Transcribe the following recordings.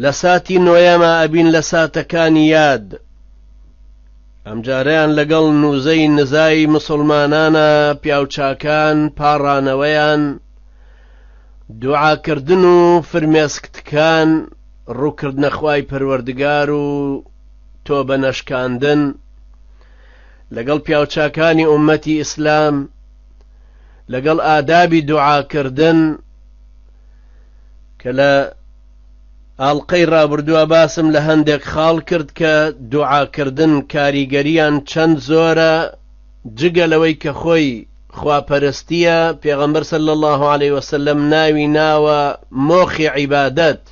لە ساتی نۆیەما ئەبین لە ساتەکانی یاد. ئەمجارەیان لەگەڵ نوزەی نزای مسوڵمانانە پیاوچاکان پاڕانەوەیان، دوعاکردن و فرمێسکتکان، ڕووکردنە خوای پەروەردگار و تۆبە نەشکاندن، لەگەڵ پیاوچاکانی ئوممەتی ئیسلام، لەگەڵ ئادابی دوعاکردن، کە لە ئاڵقەی ڕابردووە باسم لە هەندێک خاڵ کرد کە دوعاکردن کاریگەریان چەند زۆرە جگە لەوەی کە خۆی خواپەرستیە پێغەمبەر سەل الله عليه وسلم ناوی ناوە مۆخی عیبادەت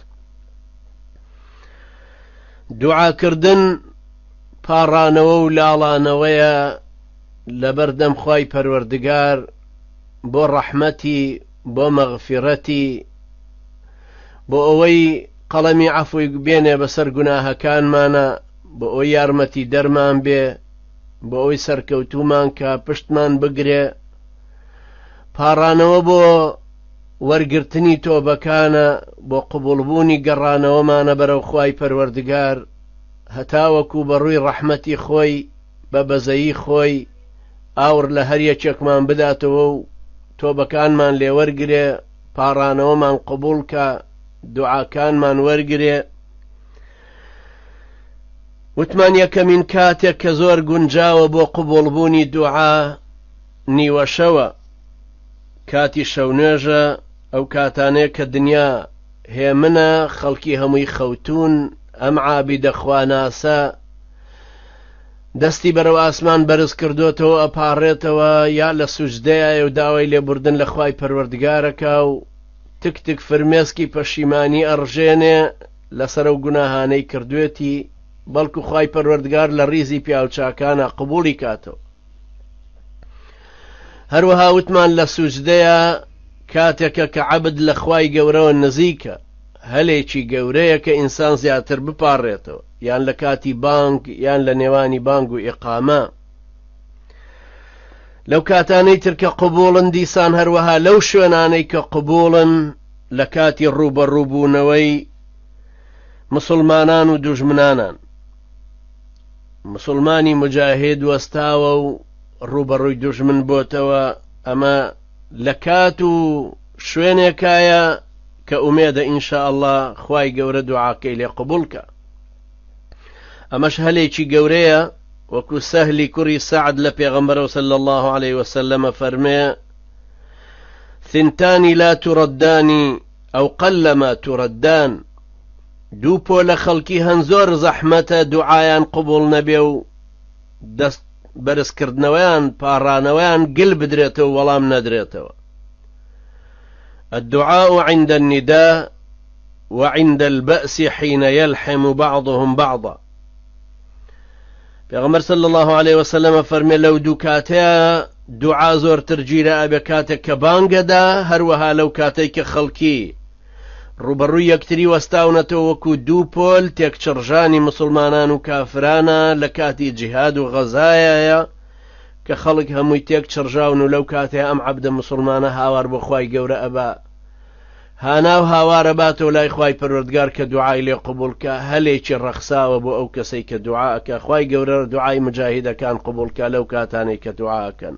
دوعاکردن پاڕانەوە و لاڵانەوەیە لەبەردەم خی پەروەردگار بۆ ڕەحمەتی بۆ مەغفیڕەتی بۆ ئەوەی قەڵەمی عەفوی بێنێ بەسەر گوناهەکانمانە بۆ ئەو یارمەتی دەرمان بێ بۆ ئەوی سەرکەوتومان کە پشتمان بگرێ پاڕانەوە بۆ وەرگرتنی تۆبەکانە بۆ قوبولبوونی گەڕانەوەمانە بەرەو خی پەروەردگار هەتاوەکو بە ڕووی ڕەحمەتی خۆی بە بەزەیی خۆی ئاوڕ لە هەر یەکێکمان بداتەوە و تۆبەکانمان لێوەرگرێ پاڕانەوەمان قبولکە دوعاکانمان وەرگێ وتمان یەکەمین کاتێک کە زۆر گونجاوە بۆ قوبڵبوونی دوعا نیوەشەوە کاتی شەونێژە ئەو کاتانەیە کە دنیا هێمنە خەڵکی هەمووی خەوتون ئەم عابی دەخواناسە دەستی بەرەو ئاسمان بەرز کردۆتەوە ئەپاڕێتەوە یا لە سوجدەیایە و داوای لێبوردن لە خوای پەروەردگارەکا و تک تک فرمێسکی پەشیمانی ئەڕژێنێ لەسەر ئەو گوناهانەی کردوێتی بەڵکو خوای پەروەردگار لە ڕیزی پیاو چاکانە قبوڵی کاتەوە هەروەها وتمان لە سوجدەیە کاتێکە کە عەبد لە خوای گەورەوە نزیکە هەلێکی گەورەیە کە ئینسان زیاتر بپاڕێتەوە یان لە کاتی بانگ یان لە نێوانی بانگ و ئیقامە لەو کاتانەی تر کە قوبوڵن دیسان هەروەها لەو شوێنانەی کە قوبوڵن لە کاتی ڕووبەڕووبوونەوەی مسلمانان و دوژمنانان مسلمانی مجاهد وەستاوە و ڕوبەڕووی دوژمن بۆتەوە ئەمە لە کات و شوێنێکایە کە ئومێدە ان شاء اللە خوای گەورە دوعاکەی لێ قبوڵ کا ئەمەش هەلێکی گەورەیە وەکو سەهلی کوڕی سەعد لە پێغەمبەرەوە صلی الله عليه وسلم فەرمێ ثنتانی لا تردانی ئەو قلما تردان دوو پۆلە خەڵکی هەن زۆر زەحمەتە دوعایان قبول نەبێ و دەست بەرز کردنەوەیان پاڕانەوەیان گل بدرێتەوە و وەڵام نەدرێتەوە الدعاء عند النداء وعند البأس حين يلحم بعضهم بعضا پێغەمبەر صلی الله عليه وسلم فەرمێ لەو دوو کاتەیە دوعا زۆرتر گیرە ئەبێ کاتێک کە بانگەدا هەروەها لەو کاتێک کە خەڵکی ڕووبەڕووی یەکتری وەستاونەتەوە وەکو دوو پۆل تێکچڕژانی موسڵمانان و کافرانە لە کاتی جیهاد و غەزایەیە کە خەڵک هەمووی تێک چڕژاون و لەو کاتێ ئەم عەبدە موسڵمانە هاوار بۆ خوای گەورە ئەبا هانا و هاوارە باتەوە لای خوای پەروەردگار کە دوعای لێ قوبولکە هەلێکی ڕەخساوە بۆ ئەو کەسەی کە دوعاکە خوای گەورە دوعای مجاهیدەکان قوبولکە لەو کاتانەی کە دوعاکەن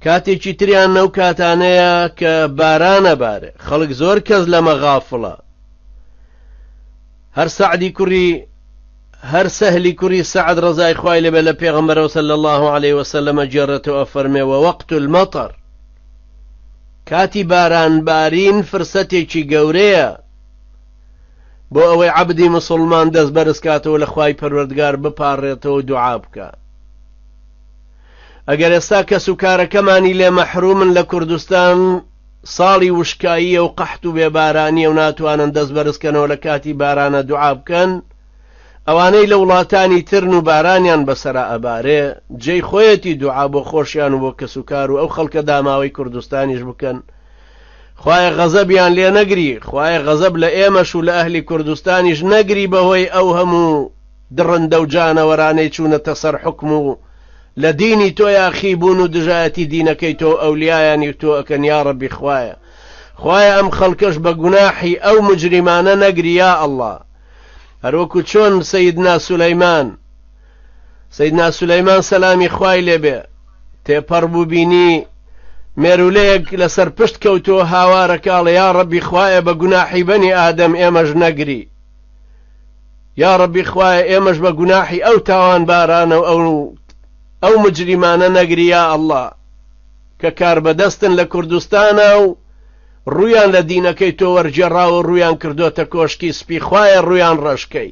کاتێکی تریان نەو کاتانەیە کە بارانە بارێ خەڵک زۆر کەس لەمە غافڵە هەر سەعدی کوڕی هەر سەهلی کوڕی سعد ڕزای خی لەبێ لە پێغمبەرەوە سە لە الله عليه وسلمە جێڕێتەوە فەرمێەوە وەقت المەتەر کاتی بارانبارین فرسەتێکی گەورەیە بۆ ئەوەی عەبدی موسوڵمان دەست بەرز کاتەوە لە خوای پەروەردگار بپاڕێتەوە دوعا بکا ئەگەر ئێستا کەس و کارەکەمانی لێ مەحرومن لە کوردستان ساڵی وشکاییە و قەحت و بێبارانیە و ناتوانن دەست بەرزکەنەوە لە کاتی بارانە دوعا بکەن ئەوانەی لە وڵاتانی ترن و بارانیان بەسرا ئەبارێ جێی خۆیەتی دوعا بۆ خۆشیان و بۆ کەس و کار و ئەو خەڵکە داماوەی کوردستانیش بکەن خوایە غەزەبیان لێ نەگری خوایە غەزەب لە ئێمەش و لە ئەهلی کوردستانیش نەگری بەهۆی ئەو هەموو دڕندە و جانەوەرانەی چوونەتە سەر حوکم و لە دینی تۆ یاخی بوون و دژایەتی دینەکەی تۆ و ئەولیایانی و تۆ ئەکەن یاڕەبی خوایە خوایە ئەم خەڵکەش بە گوناحی ئەو مجریمانە نەگری یا ئەڵڵا هەروەکو چۆن سەیدنا سولەیمان سەیدنا سولەیمان سەلامی خوای لێبێ تێپەڕ بوو بینی مێرولەیەک لەسەر پشت کەوتووە هاوارەکەڵێ یا ڕەبی خوایە بە گوناحی بەنی ئادەم ئێمەش نەگری یا ڕەبی خوایە ئێمەش بە گوناحی ئەو تاوان بارانە و ئەو ئەو مجریمانە نەگریا ئەله کە کاربەدەستن لە کوردستانە و ڕویان لە دینەکەی تۆ وەرجێڕاوە ڕویان کردوتە کۆشکی سپی خوایە ڕویان ڕەشکەی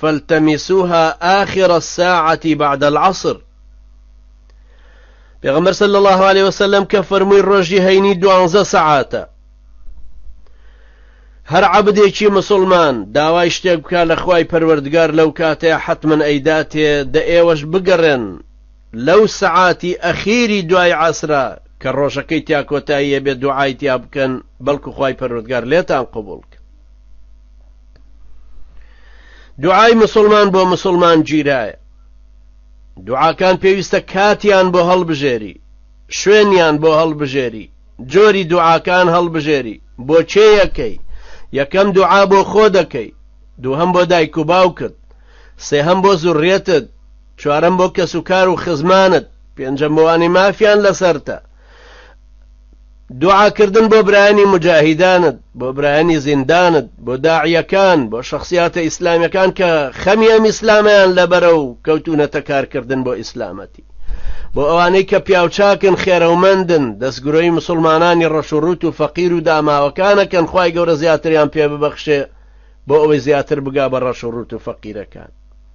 فالتمسوها آخر الساعة بعد العصر پێغەمبەر صلی الله عليه وسلم کە فەرمووی ڕۆژی هەینی دوانزە سەعاتە هەر عبدێکی مسلمان داوای شتێک بکە لە خوای پەروەردگار لەو کاتێ حتمما ئەیداتێ دە ئێوەش بگەڕێن لەو سەعاتی ئەخیری دوای عسرا کە ڕۆژەکەی تیا کۆتاییە بێ دوعای تیا بکەن بەڵکو خوای پەروەردگار لێتان قبولکە دوعای مسلمان بۆ مسلمان گیرایە دوعاکان پێویستە کاتیان بۆ هەڵبژێری شوێنیان بۆ هەڵبژێری جۆری دوعاکان هەڵبژێری بۆ چێیەکەی یەکەم دوعا بۆ خۆ دەکەی دووهم بۆ دایک و باوکت سێهم بۆ زوڕێتت چوارم بۆ کەس و کار و خزمانت پێنجەم بۆوانی مافیان لەسەرتە دوعاکردن بۆ برایانی مجاهیدانت بۆ برایانی زیندانت بۆ داعیەکان بۆ شخصیاتە ئیسلامیەکان کە خەمی ئەم ئیسلامیان لەبەرە و کەوتونەتە کارکردن بۆ ئیسلامەتی بۆ ئەوانەی کە پیاوچاکن خێرەومەندن دەستگرۆی مسلمانانی ڕەشوڕوت و فەقیر و داماوەکانەکەن خی گەورە زیاتریان پێ ببەخشێ بۆ ئەوەی زیاتر بگا بە ڕەشوڕوت و فەقیرەکان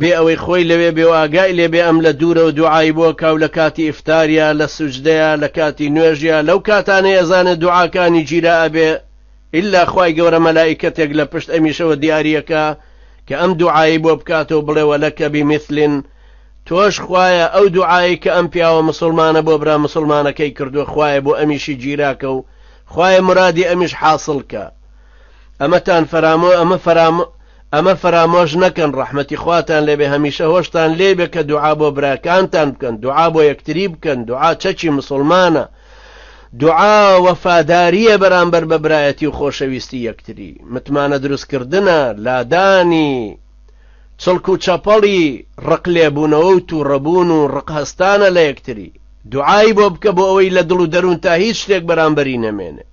بێ ئەوەی خۆی لەوێ بێ و ئاگای لێ بێ ئەم لە دوورەوە دوعای بۆ ئەکا و لە کاتی ئیفتاریا، لە سوجدەیا، لە کاتی نوێژیا، لەو کاتانەی ئەزانێ دوعاکانی گیرا ئەبێ ئیلا خوای گەورە مەلائیکەتێک لە پشت ئەمیشەوە دیاری ئەکا کە ئەم دوعایەی بۆ بکاتەوە بڵێ ولک بمثل تۆش خوایە ئەو دوعایەی کە ئەم پیاوە مسوڵمانە بۆ برا مسوڵمانەکەی کردووە خوایە بۆ ئەمیشی گیراکە و خوایە مرادی ئەمیش حاسڵ کە. ئەمەتان فەرامۆ ئەمە فەرامۆ ئەمە فەرامۆش نەکەن ڕەحمەتی خواتان لێبێ هەمیشە هۆشتان لێبێ کە دوعا بۆ براکانتان بکەن دوعا بۆ یەکتری بکەن دوعا چەکی مسلمانە دوعا وەفاداریە بەرامبەر بە برایەتی و خۆشەویستی یەکتری متمانە دروستکردە لادانی چڵک و چەپەڵی ڕق لێبوونەوە و تووڕەبوون و ڕق هەستانە لە یەکتری دوعای بۆ بکە بۆ ئەوەی لە دڵ و دەروون تا هیچ شتێک بەرامبەری نەمێنێ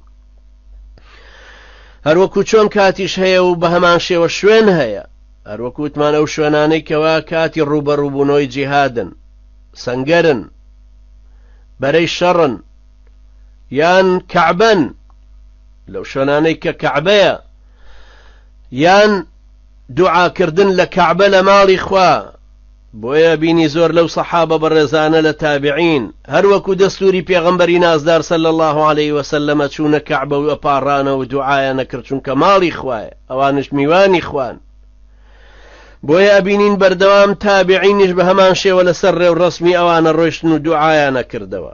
هەروەکو چۆن کاتیش هەیە و بە هەمان شێوە شوێن هەیە هەروەکوتمان ئەو شوێنانەی کەوا کاتی ڕوبەڕوبوونەوەی جیهادن سنگەرن بەرەی شەڕن یان کەعبەن لەو شوێنانەی کە کەعبەیە یان دوعاکردن لە کەعبە لە ماڵی خوا بۆیە بینی زۆر لەو سەحابە بەڕێزانە لە تابعین هەر وەکو دەستوری پێغەمبەری نازدار صلی اللە علیە وسلم ئەچونە کەعبە و ئەپاڕانەوە و دوعایان ئەکرد چونکە ماڵی خوایە ئەوانش میوانی خوان بۆیە ئەبینین بەردەوام تابعینیش بە هەمان شێوە لەسەر ڕێوڕەسمی ئەوانە ڕۆشتن و دوعایان ئەکردەوە.